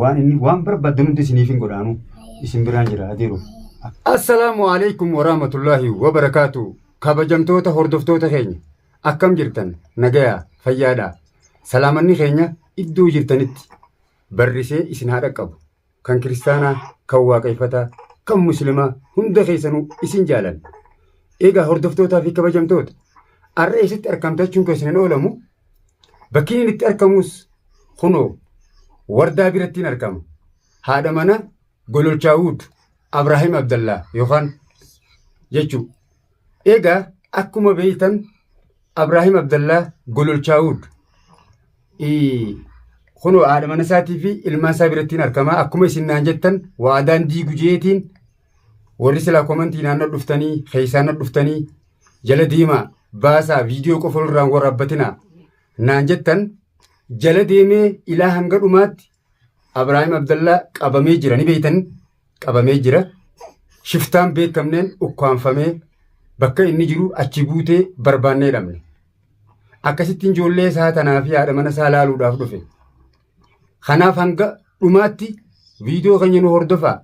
waan inni waan barbaadan hundi isiniif hin godhaanu isin biraan jira adiiru. Assalaamu alaikum warahmatullaahi wabarakaatu kabajamtoota hordoftoota keenya akkam jirtan nagayaa fayyaadha salaamanni keenya iddoo jirtanitti barrisee isin haa dhaqqabu kan kiristaanaa kan waaqeffataa kan muslimaa hunda keessanuu isin jaalan egaa hordoftootaa fi kabajamtoota har'a eessatti argamtachuun keessan hin oolamu Bakkiin inni itti argamus kunoo wardaa birattiin argama. Haadha mana Gololchaawud Abraahim Abdallaa yookaan jechuu. Egaa akkuma beeytan Abraahim Abdallaa Gololchaawud kunoo haadha mana isaatii fi ilmaan isaa birattiin argama. Akkuma isin naan jettan waadaan diigu jeetiin Warri silaa komantii naannoo dhuftanii keessaanna dhuftanii jala deemaa baasaa viidiyoo qofa irraan waraabbatinaa naan jettan jala deemee ilaa hanga dhumaatti Abiraahim Abdallaa qabamee jira ni beeytan qabamee jira shiftaan beekamneen ukkaanfamee bakka inni jiru achi buutee barbaannee dhabne akkasittiin ijoollee isaa tanaa fi haadha mana isaa laaluudhaaf dhufe. Kanaaf hanga dhumaatti viidiyoo keenya nu hordofaa.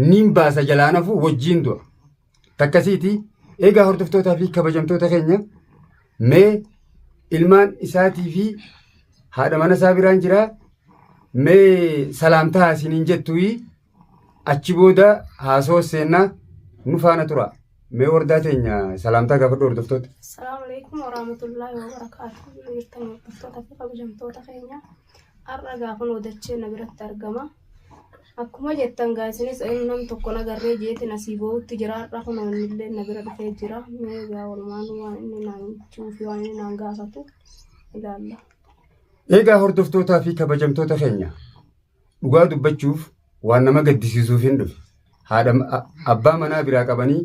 Niin baasa jalaan hafuu wajjiin du'a. Takkasiiti egaa hordoftootaa fi kabajamtoota keenya mee ilmaan isaatii fi haadha mana isaa biraan jiraa mee salaamtaa isiniin jettuuyii. Achi booda haasawa seennaa nu faana tura. Mee wardaa teenya salaamtaa gaafadhu hordoftoota. Assalamu alaikum warahmatullahi wabarakatuh. Yoo jirtan hordoftoota fi kabajamtoota keenya har'a gaafan odachee na biratti argama. Akkuma jettan gaa isinis nam tokko na garree jeetin asii boo'utti jira har'a kun illee na bira dhufee jira. Mee gaa walumaan waan inni naan jechuu fi waan inni naan gaafatu ilaalla. Egaa hordoftootaa fi kabajamtoota keenya Dhugaa dubbachuuf waan nama gaddisiisuuf hin dhufe. Haadha abbaa manaa biraa qabanii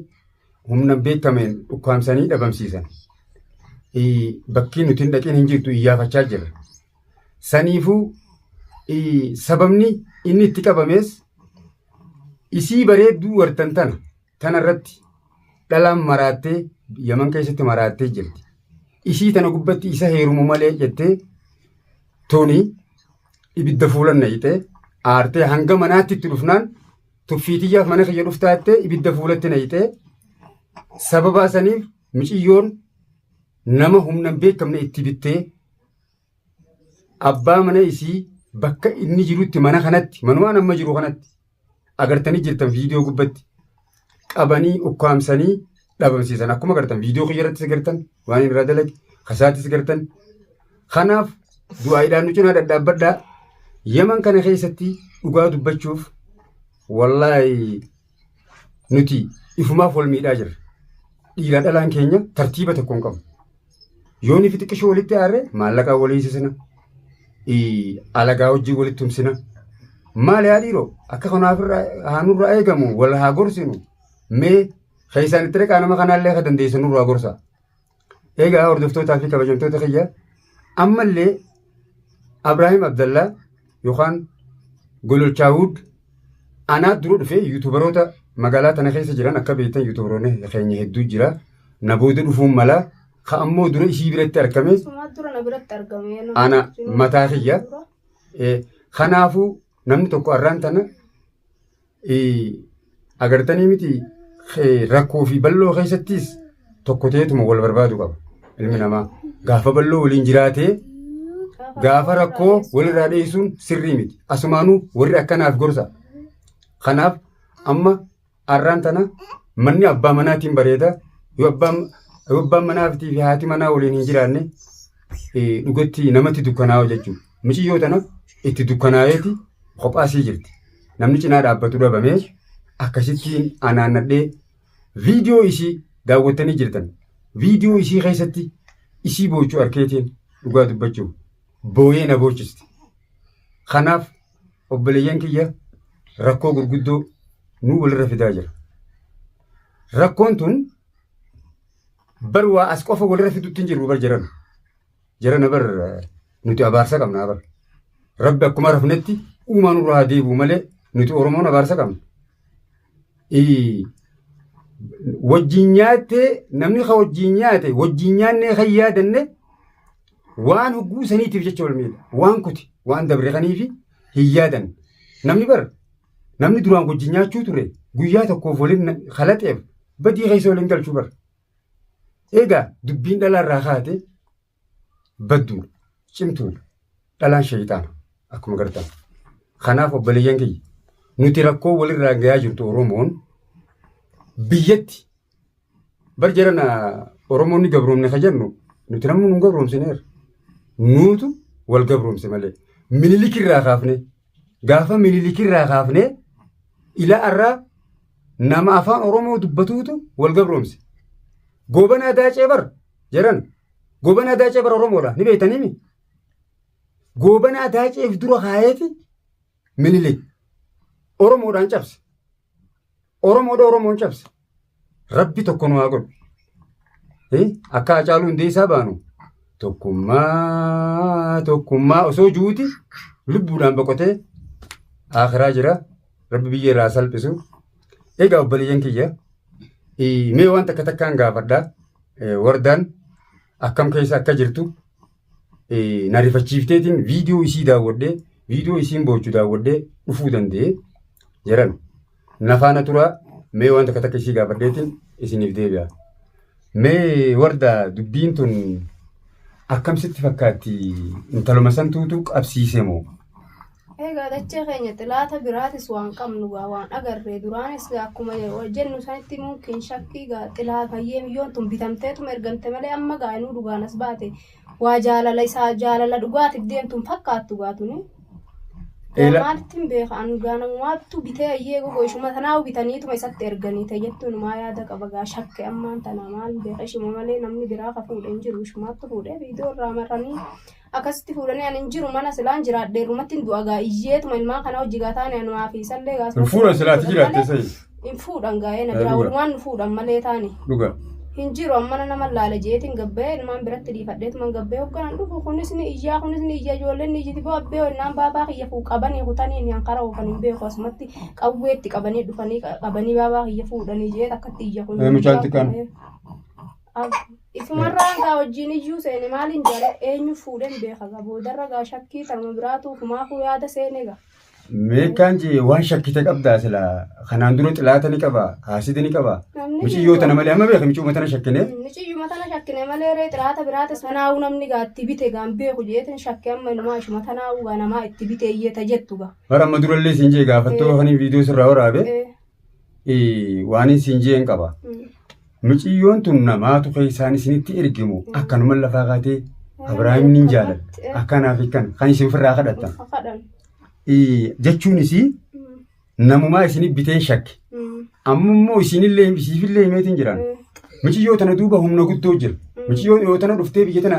humna beekameen dhukkaamsanii dhabamsiisan. Bakkii nuti hin dhaqin hin jirtu iyyaafachaa jira. Saniifuu sababni inni itti qabamees isii bareedduu wartan tana Tana irratti dhalaan maraattee Yaman keessatti maraattee jirti. Isii tana gubbatti isa heerumu malee jettee tuni ibidda fuulan naqxee aartee hanga manaatti itti dhufnaan tuffiitiyyaaf mana kiyya dhuftaattee ibidda fuulatti naqxee sababaa saniif miciyyoon nama humnan beekamne itti bittee abbaa mana isii bakka inni jirutti mana kanatti manumaan amma jiru kanatti agartanii jirtan viidiyoo gubbatti qabanii ukkaamsanii dhabamsiisan akkuma agartan viidiyoo kiyya irrattis agartan waan inni irraa dalage kasaattis agartan kanaaf du'aayiidhaan nu cinaa dhadhaabbadhaa yaman kana keessatti dhugaa dubbachuuf wallaahi Nuti ifumaaf wal miidhaa jirra. Dhiiraa dhalaan keenya tartiiba tokko hin qabu. Yoo nuti xiqqishoo walitti aarre maallaqaa walii hiisisna. Alagaa wajjin walitti tumsina. Maal yaa dhiiroo akka kanaaf haanurraa eegamu wal haa gorsinu. Mee keessaan itti dhaqaa nama kanaallee akka dandeessan nurraa gorsaa. Egaa hordoftootaa fi kabajamtoota kiyya ammallee Abraahim Abdallaa yookaan Gololchaawud anaa dura dhufee yuutubaroota magaalaa tana keessa jiran akka beektan yuutubaroonni keenya hedduu jira. Na booda dhufuun mala ka ammoo dura isii biratti argame Sumaa dura na biratti argame. ana mataa kiyya. Eh, Kanaafuu Namni tokko arraan tana agartanii miti rakkoo fi bal'oo keessattis tokko ta'eetuma wal barbaadu qaba ilmi namaa. Gaafa bal'oo waliin jiraatee gaafa rakkoo walirraa dheessuun sirrii miti. Asumaanuu warri akkanaaf gorsa. Kanaaf amma Arraan tana manni abbaa manaatiin bareeda. Yoo abbaan yoo abbaan manaa fi haati manaa waliin hin jiraanne eh, dhugatti namatti dukkanaa'u jechuudha. Miciyyoo tana itti dukkanaa'eeti kophaasii jirti. Namni cinaa dhaabbatu dhabamee akkasittiin anaannadhee viidiyoo isii daawwattanii jirtan. Viidiyoo isii keessatti isii boochuu arkeetiin dhugaa dubbachuuf booyee na boochiste. Kanaaf obboleeyyan kiyya rakkoo gurguddoo nu walirra fidaa jira. Rakkoon tun bar waa as qofa walirra fidutti hin jirru bar jarana. Jarana bar eh, nuti abaarsa qabna bar. Rabbi akkuma rafnetti uumaa nurraa haa deebi'u malee nuti Oromoon abaarsa qabna. Ii. Wajjin nyaattee namni ka wajjin nyaate wajjin nyaannee kan yaadanne waan hogguu saniitiif jecha wal miidha. Waan kuti waan dabre kaniifi hin yaadan. Namni bar namni duraan wajjin nyaachuu ture guyyaa tokkoof waliin na- kalaxeef badii keessa waliin galchuu bar. Egaa dubbiin dhalaarraa kaate badduudha. Cimtuudha. Dhalaan shayxaana akkuma gartan. Kanaaf obboleeyyan kiyya nuti rakkoo walirraa gayaa jirtu Oromoon biyyatti bar jarana Oromoonni gabroomne ka jennu nuti namni nu gabroomsineera. Nuutu wal gabroomse malee. Minilikirraa kaafne gaafa minilikirraa kaafne ila arraa nama afaan Oromoo dubbatuutu wal gabroomse. Goobanaa daacee bar Jaran goobanaa daacee bara Oromoodha ni beektaniimi. Goobanaa daaceef dura kaayeeti minilik Oromoodhaan cabse. Oromoodha Oromoon cabse. Rabbi tokko nu haa godhu. Eh, Akka Hacaaluu Hundeessaa baanu tokkummaa tokkummaa osoo juuti lubbuudhaan boqotee akiraa jira. Rabbi biyya irraa salphisu. Egaa obboleeyyan kiyya eh, mee waan takka takkaan gaafadhaa. Wardaan akkam keessa akka jirtu na rifachiifteetiin viidiyoo isii daawwadhee viidiyoo isiin boochu daawwadhee dhufuu danda'e jedhan na faana turaa mee waan takka takka isii gaafadheetiin isiniif deebi'a. Mee wardaa dubbiin tun akkamsitti fakkaatti intaluma santuutu qabsiise moo? Egaa dachee keenya xilaata biraatis waan qabnu gaa waan agarree duraanis gaa akkuma jennu sanitti mumkin shakkii gaa xilaa bayyee miyyoon tun bitamteetuma ergamte malee amma gaa inuu dhugaan as baate waa jaalala isaa jaalala dhugaatiif deemtuun fakkaattu gaa tuni. Gaa Eela- maalitti hin beeka an gaa namumaattu bitee ayyee gogo ishuma tanaa bitaniituma isatti erganii ta'e jettuun maa yaada qaba gaa shakke ammaan tana maal beeka ishuma malee namni biraa ka fuudhe hin jiru ishumaattu fuudhee viidiyoo irraa maranii Akkasitti fuudhanii ani hin jiru mana silaan jiraadhe irrumattin du'a gaa iyyeetuma ilmaan kana wajji gaa taane anumaa fi isallee gaa Hin fuudhan silaa ati jiraatte malee sayi. hin fuudhan gaa'ee na Eh, biraa dhugaa. walumaan nu fuudhan malee taane Dhugaa. hin jiru ammana nama laale jeetiin gabba'ee ilmaan biratti dhiifadheetuman gabba'ee hogganan dhufu kunis ni iyyaa kunis ni iyya ijoolleen ni iyyiti boo abbee honnaan baabaa kiyya fuu qabanii kutanii inni hankara oofan hin beeku asumatti qawweetti qabanii dhufanii qabanii baabaa kiyya fuudhanii jeet akkatti iyya kun Eh, mucaan xiqqaan. Eh, ab- Isumarraa hangaa wajjin iyyuu seene maaliin jara eenyu fuudheen beeka gaa boodarra gaa shakkii tanuma biraatu humaafuu yaada seene gaa. Meeqaan jee waan shakkite qabdaa sila kanaan dura xilaata ni qaba haasida ni qaba Namni miciyyoo tana malee amma beeka miciyyoo tana shakkine Miciyyuma tana shakkine malee ree xiraata biraata sanaa'uu namni gaa itti bite gaa hin beeku jeetin shakke amma inumaa ishuma tanaa'uu gaa namaa itti bite iyyee ta jettu gaa. bara amma durallee siin jee gaafattoo kaniin viidiyoo sirraa waraabe Eh, eh, waanin siin jeen qaba. Muciyyoon tun namaatu keessaan isinitti ergimu akkanuma lafaa kaatee Abiraahim nin jaaladha. Akkanaaf kan kan isin ofirraa kadhattan. Kadhan. Eh, Jechuun isii namumaa isinif biteen shakke. Amma immoo isinillee isiifillee himeetiin jiran. Muciyyoo tana duuba humna guddoo jira. Muciyyoon yoo tana dhuftee biyya tana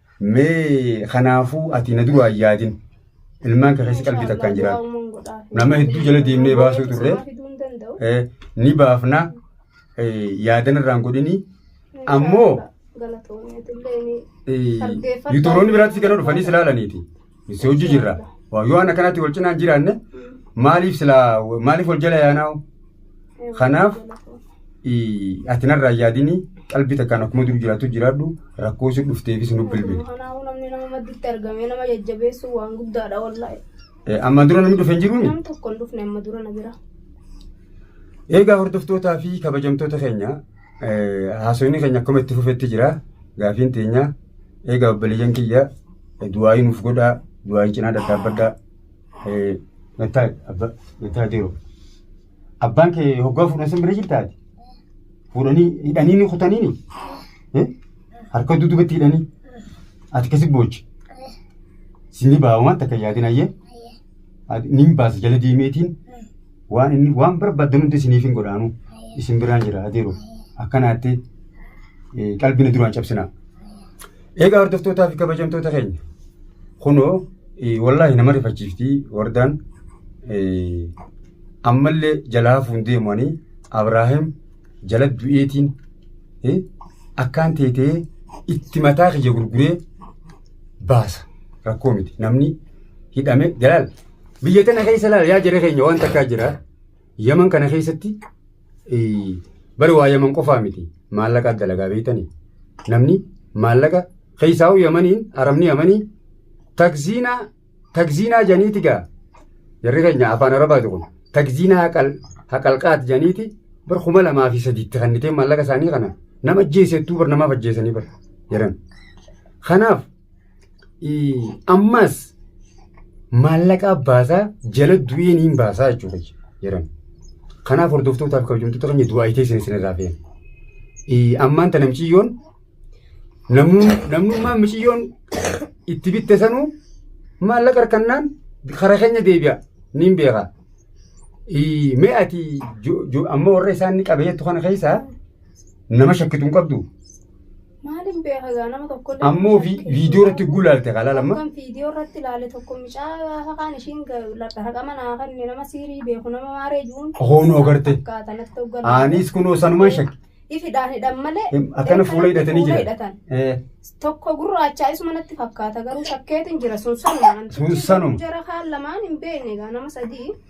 Mee kanaafuu ati na duraa hin yaadin. Ilmaan kee keessa qalbii takkaan jiraadhu. Nama hedduu jala deemnee baasuu turre. Eh, Ni baafna eh, yaadan irraan godhini. Ammoo eh, yuuturoonni biraatti si kana dhufanii si laalaniiti. Si hojii jirra. Waa, Yoo waan akkanaatti wal cinaan jiraanne maaliif silaa maaliif wal jala yaanaa'u? Kanaaf ii, ati narraa hin yaadini qalbii takkaan akkuma dur jiraattu jiraadhu rakkoo si dhufteefis nu bilbili. Kanaafuu namni nama madditti argamee nama jajjabeessu waan guddaadha wallahi. Eh, Ammaan dura namni dhufe hin jiruuni? Namni tokko hin dhufne amma dura na bira. Eegaa hordoftootaa fi kabajamtoota keenya Haasofni keenya akkuma itti fufetti jira. Gaafiin teenya eegaa obboleeyyan kiyya du'aayii nuuf godhaa du'aayii cinaa dadhaabbadhaa. Nattaa abba nattaa deeru. Abbaan kee hoggaa fuudhan san bira jirtaati. Fuudhanii hidhanii ni kutaniini. Harka dudubatti hidhanii. Ati kasi boochi. Sinni baawamaa takka yaadin ayyee. Nin baasa jala deemeetiin. waan inni waan barbaadan hundi isiniif hin godhaanu isin biraan jira adiiru akkanaatti eh, qalbii na duraan cabsinaa. Egaa hordoftootaa fi kabajamtoota keenya kunoo eh, wallaahi nama rifachiifti wardaan eh, ammallee jalaa hafuun deemanii Abraahim jala du'eetiin eh, akkaan teetee itti mataa kiyya gurguree baasa rakkoo miti namni hidhame jalaal Biyya tana keessa laal yaa jira keenya waan takkaa jira. Yaman kana keessatti bari waa yaman qofaa miti maallaqa dalagaa beektanii namni maallaqa keessaa'uu yamaniin arabni yamanii takziinaa takziinaa janiiti gaa jarri keenya afaan arabaati kun takziinaa haqal haqalqaat janiiti bar kuma lamaa fi sadiitti kannitee maallaqa isaanii kana nama ajjeesettuu bar namaaf ajjeesanii bar jedhan kanaaf Ammas maallaqaa baasaa jala du'ee niin baasaa jechuudha jedhan. Kanaaf hordoftootaaf kabajamtoota keenya du'aa itee isin isinirraa feena. Ammaan tana miciyyoon namnummaan miciyyoon itti bitte sanuu maallaqa harkannaan karaa keenya deebi'a niin beekaa. Mee ati amma warra isaan qabee jettu kana keessaa nama shakkitu hin qabdu. Maalin beeka egaa nama tokko illee Amma ofii mucattiin viidiyoo sun irratti gulaalte kan laalamma. Tokkon viidiyoo irratti ilaale tokko mucaa gaafa kaan ishiin dhaqama naa kenne nama siirii beeku nama maaree jiruun. Hoonoo garte. Fakkaata natti hoggalu. Anis kunoo sanumaan shakke. Ifidhaan hidhan malee. Em, akkana fuula hidhatanii fuula jiran. hidhatan. Eh, Tokko gurraachaa isuma natti fakkaata garuu shakkeetiin jira sun sanuma. Sun sanuma. Jara kaan lamaan hin beekne egaa nama sadii.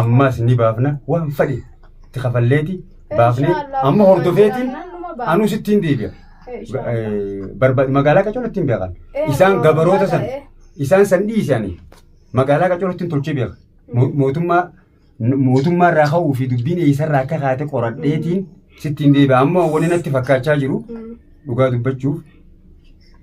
ammaas ni baafna waan fadhe itti kafalleeti baafne amma hordofeetiin anuu sittiin deebi'a. Barbaad magaalaa qacoon ittiin beekan. Isaan gabaroota san isaan san dhiisanii magaalaa qacoon ittiin tolchee beeka. Mootummaa mootummaa irraa ka'uu fi dubbiin eessarraa akka kaate qoradheetiin sittiin deebi'a. Amma wanni natti fakkaachaa jiru dhugaa dubbachuuf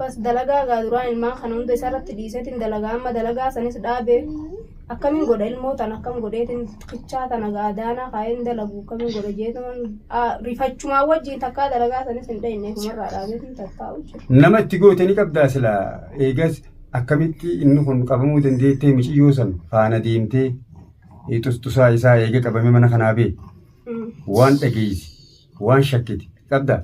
Bas dalagaa gaa duraan ilmaan kana hunda isarratti dhiiseetiin dalagaa amma dalagaa sanis dhaabe akkamiin godha ilmoo tan akkam godheetiin kichaa tana gaa daanaa kaa'een dalagu akkamiin godha jeetuman rifachumaa wajjin takkaa dalagaa sanis hin dhayinne kumarraa dhaabeetiin tattaa'u jira. Nama itti goote ni qabdaa sila eegas akkamitti inni kun qabamuu dandeettee miciyyoo san faana deemtee xustusaa isaa eega qabamee mana kanaa bee waan dhageessi. Waan shakkiti qabdaa?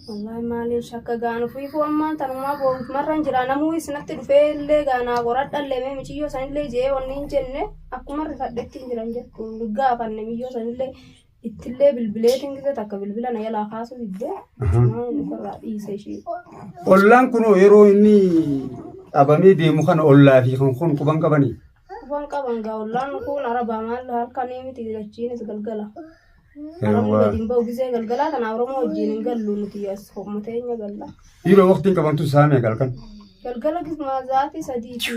Wallaahi maaliin shakka gaanu fiifuu ammaan tanumaa boonkumarran jira namuu isinatti dhufee illee gaanaa qoradhallee mee miciyyoo sanillee je'ee wanni hin jenne akkuma rifadhetti hin jiran jettu hin gaafanne miyyoo sanillee ittillee bilbileetiin gizee takka bilbila na jalaa kaasuu diddee maa inni ofirraa dhiise ishii. Ollaan kunoo yeroo inni dhabamee deemu kana ollaa fi kan kun quban qabanii. Afaan qaban gaa ollaan kun arabaa maal halkanii miti achiinis galgala. Arabni gadi hin ba'u gisee galgalaa kana Oromoo wajjin hin gallu nuti as ho'uma teenya galla. Dhiiroo waqtiin qabantu isaa meeqa halkan? Galgala gismaa zaatii sadii fi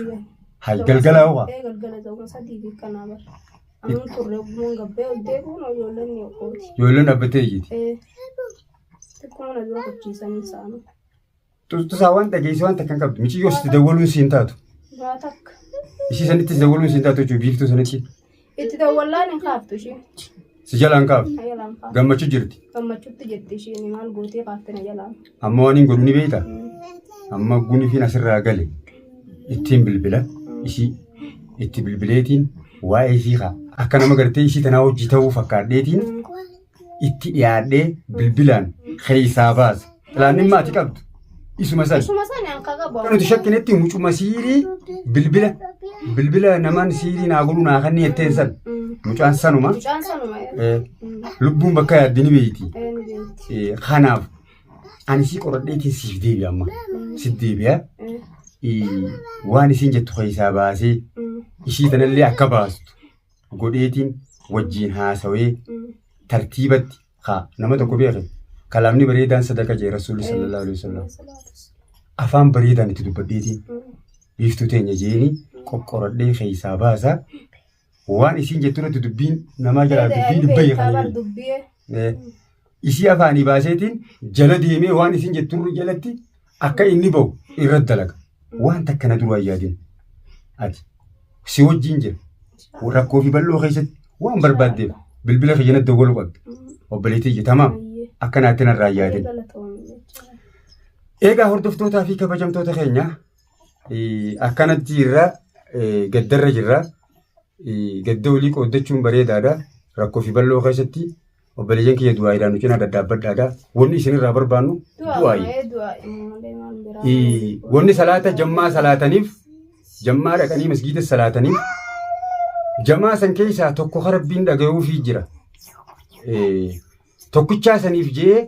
Hay galgalaa waa. Ee galgala za'uma sadii fi kanaa bara. Anuun turre ogummaan gabbee ol deebi'uun ijoolleen ni okooti. Ijoolleen dhaabbattee iyyiti. Ee xiqquma na dura kachiisanii isaanii. Tusaa waan dhageessee waan takka hin qabdu. Miciyyoo sitti dawwaluun siin taatu. Waa takka. Ishii sanittis dawwaluun siin taatu jechuudha biiftuu sanitti. Itti dawwallaan hin kaaftu ishee. Si jalaan kaaf. Na jalaan kaaftu. Gammachuu jirti. Gammachuutti jetti isheen maal gootee kaafte na jalaan. Amma waan hin godhu ni beekta. Amma gunifiin asirraa gale. Ittiin bilbila. Ishii itti bilbileetiin waa'ee ishii haa. Akka nama gartee ishii tanaa hojii ta'uu fakkaadheetiin itti dhiyaadhee bilbilaan keessaa baase. Pilaaniin maatii qabdu isuma sana. Isuma sana akka qabu. Kan nuti shakkinetti mucuma siirii bilbila bilbila namaan siirii naa godhu naa kanneen jetteen sana. Mucaan sanuma Mucaan sanuma. eh, lubbuun bakka yaaddi ni beeyti. Eh, Kanaaf ani si qoradhee teessiif deebi'a amma. Si deebi'a. Eh, Waan isiin jettu keessaa baasee ishii tanallee akka baastu. godheetiin wajjiin haasawee tartiibatti haa nama tokko beeke kalaamni bareedaan sadaqa jee rasuulli sallallahu alaihi wasallam afaan bareedaan itti dubbadheetiin biiftuu teenya jeeni qoqqoradhee keessaa baasa waan isiin jettu irratti dubbiin namaa jalaa dubbii dubbii kan dubbii Isii afaanii baaseetiin jala deemee waan isin jetturri jalatti akka inni ba'u irra dalaga. Waan takka na duraa yaadin. Ati si wajjin jira. Rakkoo fi bal'oo keessatti waan barbaaddeef bilbila kiyya na dawwaluu qabda. Obboleettii ija tamaam akka naatti narraa yaadin. Egaa hordoftootaa fi kabajamtoota keenya eh, akkanatti irra eh, gaddarra jirra. Eh, Gadda olii qooddachuun bareedaadha. Rakkoo fi bal'oo keessatti Obboleeyyan kiyya du'aayiidhaan nu cinaa daddaabbadhaadha. Wanni isinirraa barbaannu du'aayi. Ii, Wanni salaata jammaa salaataniif, jammaa dhaqanii masgiida salaataniif, jamaa san keessaa tokko ka rabbiin dhagayuufii jira. Ee, Tokkichaa saniif jee,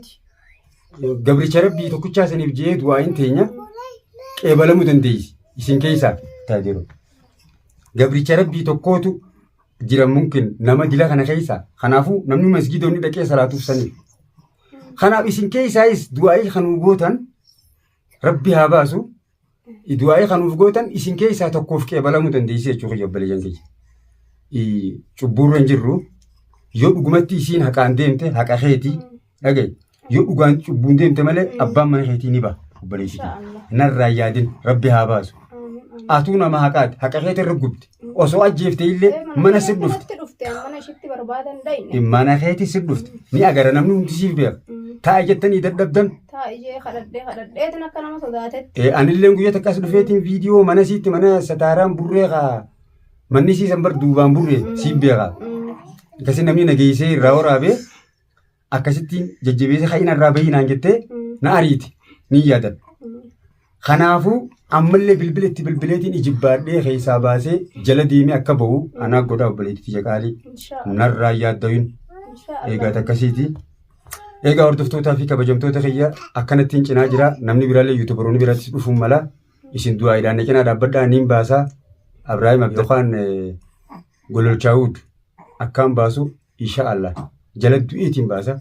gabricha rabbii tokkichaa saniif jee du'aayin teenya qeebalamuu dandeessi. Isin keessaa taa jiru. Gabricha rabbii tokkootu jiran mumkin nama dila kana keessa kanaafuu namni masgiidonni dhaqee salaatuuf saniif kanaaf isin keessaayis du'aa'ii kan nuuf gootan rabbi haa baasu du'aa'ii kan nuuf gootan isin keessaa tokkoof qeebalamuu dandeessi jechuu kiyya obboleeyyan kiyya cubbuurra hin jirru yoo dhugumatti isiin haqaan deemte haqa keetii Dhaga'i. Yoo dhugaan cubbuun deemte malee abbaan mana keetii ni ba'a. Obboleessi kee. Narraa hin yaadin rabbi haa baasu. Atuu nama haqaati. Haqa keetii irra gubde. Osoo ajjeefte illee mana si dhufte. Mana keetii si dhufte. Ni agara namni hundi siif beeka. Taa'i jettanii dadhabdan. Eh, anilleen guyyaa takka as dhufeetiin viidiyoo mana siitti mana sataaraan burree kaa manni siisan bar duubaan burree siin beeka. Akkasii namni nageessee irraa waraabee akkasittiin jajjabeessa ka'ina irraa bahii naan jettee na ariiti ni yaadadha. Kanaafuu ammallee bilbila itti bilbileetiin ijibbaadhee keessaa baasee jala deemee akka ba'u anaa godhaa obboleettii jaqaalii narraa yaaddayuun eegaat akkasiiti. Eegaa hordoftootaa fi kabajamtoota kiyya akkanattiin cinaa jira namni biraallee yuutubaroonni biratti dhufuun mala isin du'aayiidhaan na cinaa dhaabbadhaa niin baasaa Abiraahim Abdulkaan Gololchaawud akkaan baasu insha Allah jala du'eetiin baasa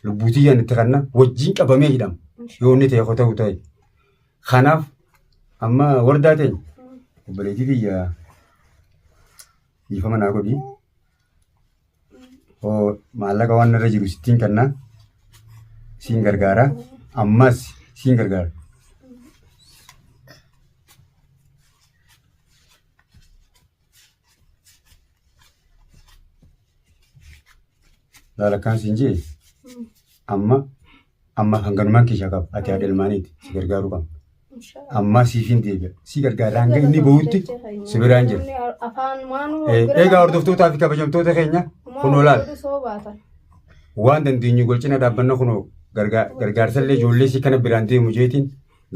lubbuutii yaan itti kanna wajjiin qabamee hidhama yoo inni ta'e ta'u ta'e kanaaf amma wardaa ta'e obboleetii biyya dhiifama naa godhi oo maallaqa waan irra jiru sittiin kanna siin gargaara ammas siin gargaara. Laala akkaan siin jee amma amma hanganumaan keeshaa qaba ati haadha ilmaaniiti si gargaaruu qabna. Ammaa siifin deebi'a si gargaara hanga inni bahutti si biraan jira. Afaan maanuu Eh, Egaa hordoftootaa fi kabajamtoota keenya kunoo laala. Soobaatan. waan dandeenyu wal cina dhaabbanna kunoo gargaa- gargaarsallee ijoollee si kana biraan deemu jeetiin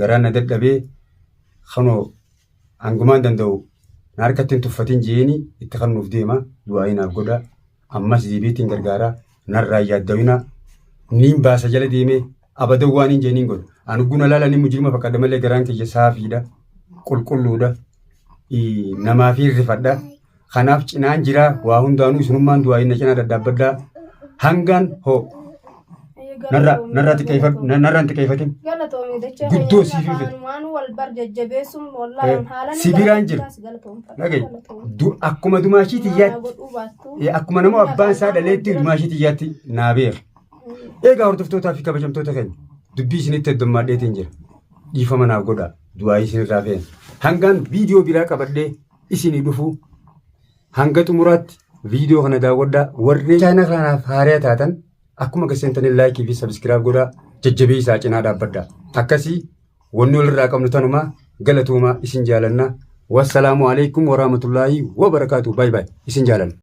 garaa na dadhabee kunoo Hangumaan danda'u na harkatti hin tuffatin jeeni itti kannuuf deema du'aa'ii naaf godha ammas deebiitiin gargaara narraa yaaddawina niin baasa jala deemee abadan waan hin jeeniin godha an ugguna laala ni mujirima fakkadha malee garaan kiyya saafiidha qulqulluudha namaa fi rifadha Kanaaf cinaan jira waa hundaanuu isinummaan du'aa inni cinaa daddaabbaddaa hangaan hoo narra narra xiqqeeffadhu narra hin xiqqeeffatin. Galatoomi dachaa Guddoo siif hin fedhu. waan wal bar jajjabeessuun Eh, wallaahi haalan si biraan jiru. Dhagaye du- akkuma dumaashii tiyyaatti godhuu baattu eh, akkuma nama abbaan isaa dhaleetti dumaashii tiyyaatti naa beera. Egaa hordoftootaa fi kabajamtoota keenya dubbii isinitti heddummaadheetiin jira. Dhiifama naaf godhaa. Du'aa isinirraa feena. Hangaan viidiyoo biraa qabadhee isinii dhufu hanga xumuraatti viidiyoo kana daawwadhaa warri chaayinaa kanaaf haariyaa taatan akkuma gaseentanii laayikii fi sabiskiraab godhaa jajjabeessaa cinaa dhaabbadha akkasii wanni walirraa qabnu tanumaa galatuumaa isin jaalanna wassalaamu alaikum warahmatullaahi wabarakaatu baay baay isin jaalanna.